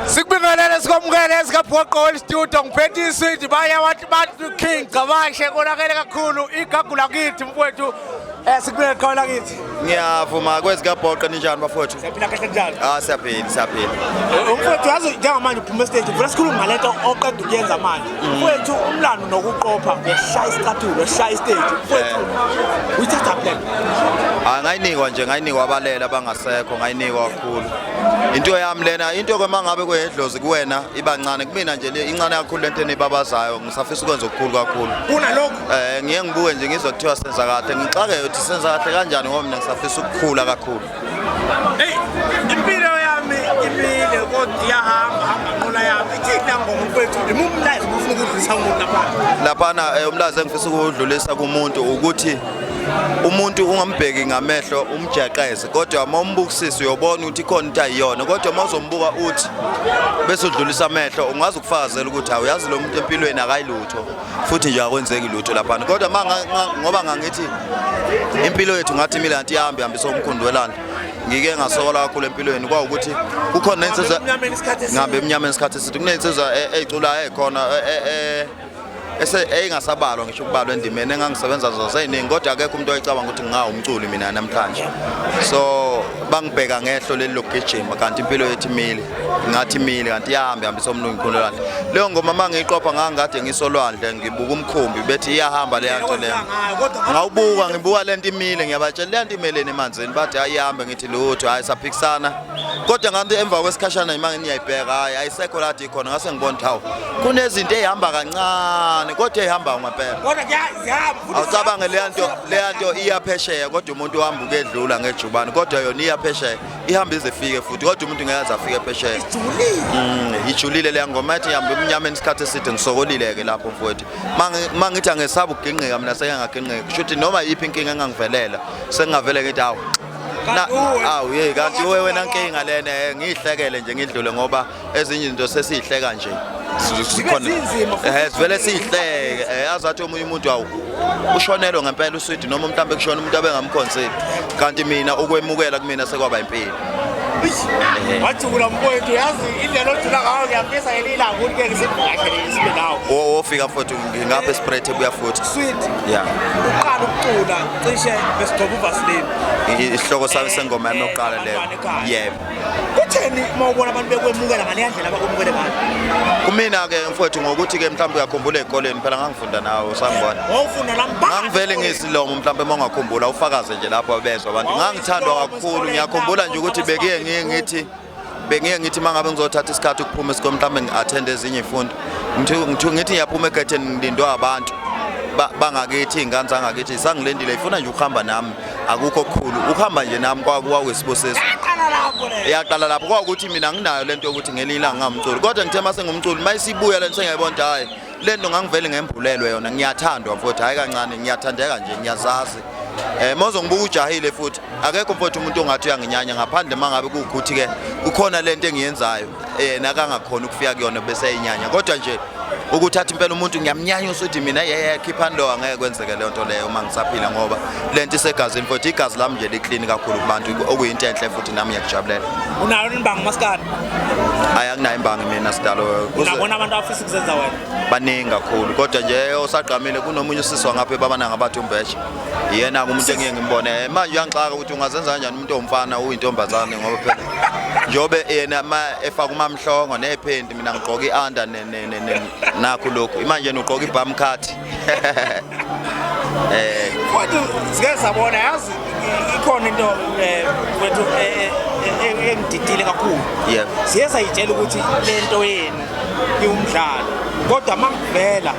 sikubingelele sikwamukele esikaphoqo welistudio ngiphethe iswidi baya wathi bantu king cabashe konakele kakhulu igagu lakithi mfowethu Eh sikubeke qala kithi. Ngiyavuma kwezikabhoqe ninjani bafowethu? Siyaphila kahle njalo. Ah siyaphila siyaphila. Eh, umfowethu yazi njengamanje uphuma stage, vula sikhuluma ngalento oqeda ukuyenza manje. mfowethu umlando nokuqopha ngokushaya isicathulo shaya istage mfowethu uyithatha plan hayi ngayinikwa nje ngayinikwa abalele abangasekho ngayinikwa kakhulu into yami lena into kwema ngabe kwehedlozi kuwena iba ncane kumina nje le incane kakhulu lento enibabazayo ngisafisa ukwenza okukhulu kakhulu kunalokho eh ngiye ngibuke nje ngizwe kuthiwa senza kahle ngixake ukuthi senza kahle kanjani ngoba mina ngisafisa ukukhula kakhulu Hey, impilo yami imile kodwa iyahamba hamba nqola yami. Ithina ngoma mfethu, imumlazi ufuna ukudlisa umuntu lapha. Laphana eh, umlazi engifisa ukudlulisa kumuntu ukuthi umuntu ungambheki ngamehlo umjaqeze kodwa uma umbukisisa uyobona ukuthi ikhona into ayiyona kodwa uma uzombuka uthi bese udlulisa amehlo ungazi ukufakazela ukuthi awuyazi lo muntu empilweni akayilutho futhi nje akwenzeki lutho laphana kodwa ngoba ngangithi impilo yethu ngathi imile anti ihambe ihambisa umkhundi welanda ngike ngasokola kakhulu empilweni kwawukuthi kukhona nensizwa ngihambe emnyameni isikhathi esithi kunensizwa e, eyiculayo ekhona e, e, eyingasabalwa ngisho ukubalwa endimeni engangisebenza nazo seyiningi kodwa akekho umuntu oyicabanga ukuthi ngingawumculi mina namhlanje so bangibheka ngehlo leli lokugijima kanti impilo yethu imile ngathi mile kanti iyahambe hambisa umlungu ikhulelwandle leyo ngoma uma ngiyiqopha ngangikade ngisolwandle ngibuka umkhumbi bethi iyahamba leya nto leyo ngawubuka ngibuka le nto imile ngiyabatshela leya nto imeleni emanzini bathi hayi ihambe ngithi lutho hhayi saphikisana kodwa nganti emva kwesikhashana imanga niyayibheka hhayi ayisekho lathi ikhona ngase ngibona ukuthi hawu kunezinto eyihamba kancane kodwa eyihamba ngempela awucabange leya nto leya nto iyaphesheya kodwa umuntu uhamba ukedlula ngejubane kodwa yona iyaphesheya ihambe ize fike futhi kodwa umuntu ngeke aze afike phesheya mm, ijulile leya ngoma ethi ihamba emnyameni isikhathi eside ngisokolile-ke lapho mfowethu ma ngithi angesaba ukugingqika mina seke ngagingqika kusho ukuthi noma yiphi inkinga engangivelela sengingavele ngithi awu awu ye kanti wena nkinga lena eh, ngiyihlekele nje ngidlule ngoba ezinye izinto sesiyihleka nje sikhona eh sivele siyihleke eh azathi omunye umuntu awu ushonelwe ngempela uswidi noma mhlawumbe kushona umuntu abengamkhonseli kanti mina ukwemukela kumina sekwaba impilo eh. wajula mfowethu yazi indlela ojula ngayo ngiyafisa yena ilanga ukuthi ngeke sibhakele isibe nawo wofika futhi ngingapha espread ebuya futhi sweet yeah uqala ukucula cishe besigcoba uvaseline isihloko sami sengoma yami yokuqala leyo yebo kutheni uma ubona abantu bekwemukela ngaleya ndlela abakwemukele ngayo kumina-ke mfowethu ngokuthi-ke mhlawumbe uyakhumbula ey'koleni phela ngangifunda nawe usangibona wawufunda la mphakathi ngangivele ngiyisilomo mhlawumbe uma ungakhumbula ufakaze nje lapho bezwa abantu ngangithandwa kakhulu ngiyakhumbula nje ukuthi bekuye ngiye ngithi bengiye ngithi uma ngabe ngizothatha isikhathi ukuphuma esikoleni mhlawumbe ngi-athende ezinye iy'fundo ngithi ngiyaphuma egetheni ngilindwe abantu bangakithi iy'ngane zangakithi sangilendile ifuna nje ukuhamba nami akukho kukhulu ukuhamba nje nami kwakuyisibusiso yaqala lapho kwawukuthi mina nginayo lento yokuthi ngelinye ilanga ngamculi kodwa ngithe uma sengumculi uma isibuya lento sengiyayibona ukuthi hhayi le nto ngangivele ngembulelwe yona ngiyathandwa mfowethu hhayi kancane ngiyathandeka nje ngiyazazi um eh, mozo ngibuka ujahile futhi akekho mfowethu umuntu ongathi uyanginyanya ngaphandle uma ngabe kuwukuthi-ke kukhona le nto engiyenzayo yena akangakhona ukufika kuyona bese eyinyanya kodwa nje ukuthatha impela umuntu ngiyamnyanya usuthi mina yeye khiphani lo angeke kwenzeke leyo nto leyo uma ngisaphila ngoba le nto isegazini futhi igazi lami nje liklini kakhulu kubantu okuyinto enhle futhi nami ngiyakujabulela unayo imbangi maskadi hayi akunayo imbangi mina sidalo unabona abantu abafisa ukuzenza wena baningi kakhulu kodwa nje osagqamile kunomunye usiswa ngapha ebabananga bathi umbeshe yena-ke umuntu engiye ngimbone manje uyangixaka ukuthi ungazenza kanjani umuntu omfana uyintombazane ngoba phela njobe yena ma efaka umamhlongo nephenti mina ngigqoka ianda nakho lokhu imanje nugqoka ibam card eh kodwa sike sabona yazi ikhona into eh, wethu eh, eh, engididile kakhulu yebo siye sayitshela ukuthi lento yenu iwumdlalo kodwa makuvela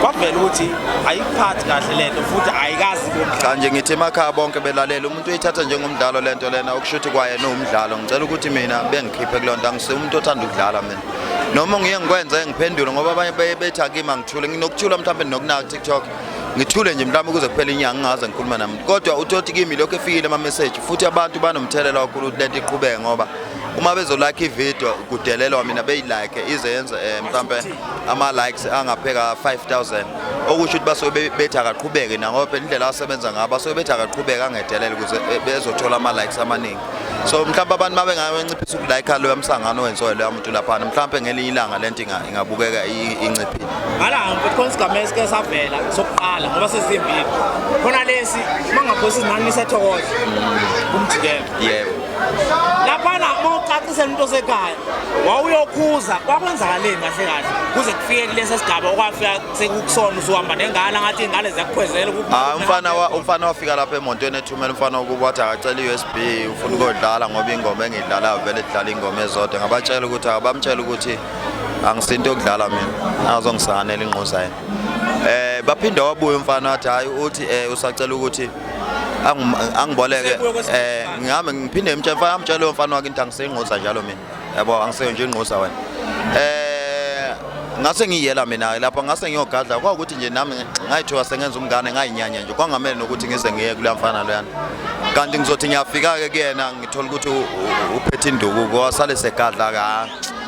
kwavela ukuthi ayikuphathi kahle lento futhi ayikazi cha nje ngithi emakhaya bonke belalela umuntu uyithatha njengomdlalo lento lena okusho ukuthi kwayena uwumdlalo ngicela ukuthi mina bengikhiphe kuleyo nto angise umuntu othanda ukudlala mina noma ngiye ngikwenze ngiphendule ngoba abanye beye bethi akimi angithule nginokuthula mhlawumbe ndinokunaka tiktok ngithule nje mhlawumbe ukuze kuphela inyanga ngingaze ngikhuluma nami kodwa uthoti kimi lokho efikile amameseji futhi abantu banomthelela kakhulu ukuthi lento iqhubeke ngoba uma bezolike ividiyo kudelelwa mina beyilike ize yenze um mhlawumbe ama likes angapheka 5000 okusho ukuthi basuke bethi akaqhubeke nangoba phela indlela asebenza ngayo basuke bethi akaqhubeke angedelele ukuze eh, bezothola ama likes amaningi so mhlawumbe abantu mabe ngayinciphisa ukulike lo yamsangano wenziwe lo yamuntu lapha mhlawumbe ngelinye ilanga lento ingabukeka inciphile ngalanga mfethu khona isigame esike savela sokuqala ngoba sesimbili khona lesi mangaphosa izinani lisethokoza mm. kumjikelo yebo laphana mawucacisa into osekhaya wawuyokhuza kwakwenzakaleni kahle kahle kuze kufike kulesi sigaba okwafika sekukusona usuhamba nengane ngathi ingane ziyakukhwezela hayi umfana umfana wafika lapha emontweni ethumela umfana ukuba wathi akacela i-u s b ufuna ukodlala ngoba ingoma engiyidlalayo vele idlala ingoma ezodwa ngabatshela ukuthi akabamtshela ukuthi angisinto yokudlala mina azongisanela ingquza yena um eh, baphinde wabuye umfana wathi hhayi uthi um usacela ukuthi angiboleke eh ngihamba ngiphinde ngimtshela mfana amtshela lo mfana wakhe into angiseyingquza njalo mina yabo angiseyo nje ingquza wena eh ngase ngiyela mina lapha ngase ngiyogadla kwawukuthi nje nami ngayithiwa sengenza umngane ngayinyanya nje kwangamele nokuthi ngize ngiye kula mfana loyana kanti ngizothi ngiyafika-ke kuyena ngithole ukuthi uphethe induku kwasale segadla ka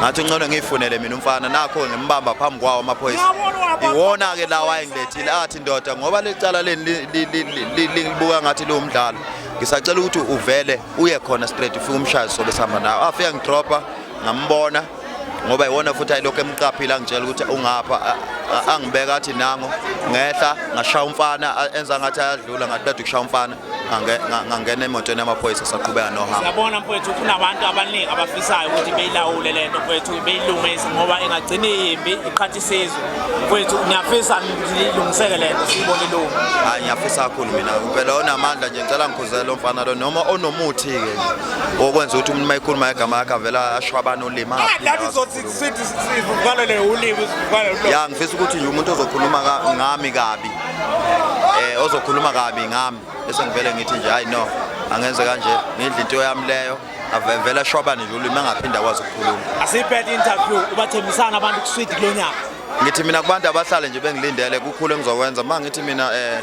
ngathi uncono ngiyifunele mina umfana nakho ngimbamba phambi kwawo amaphoyisa iwona-ke lawa ayengilethile athi ndoda ngoba licala leni libuka ngathi liwumdlalo ngisacela ukuthi uvele uye khona straight ufike umshaye sobe sihamba nawo afike ngidropha ngambona ngoba iwona futhi ayilokhu emqaphile angitshela ukuthi ungapha angibeka athi nango ngehla ngashaya umfana enza ngathi ayadlula ngathi bade ukushaya umfana ngangena emotweni yamaphoyisa saqhubeka nohambo siyabona mfowethu kunabantu abaningi abafisayo ukuthi beyilawule le nto mfowethu beyilungise ngoba ingagcina iyimbi iqhatha isizwe mfowethu ngiyafisa ilungiseke le nto siyibone ilungu hayi ngiyafisa kakhulu mina impela onamandla nje ngicela ngikhuzele lo mfana lo noma onomuthi-ke okwenza ukuthi umuntu uma ekhuluma igama yakhe avela asho abantu ulimi ah, ya ngifisa ukuthi nje umuntu ozokhuluma ngami kabi eh ozokhuluma kabi ngami bese ngivele ngithi nje hayi no angenze kanje ngidla into yami leyo avevela shwabane nje ulimi angaphinda kwazi ukukhuluma asiyibhede interview ubathembisana abantu kuswidi kulonyaka ngithi mina kubantu abahlale nje bengilindele kukhulu engizokwenza uma ngithi mina eh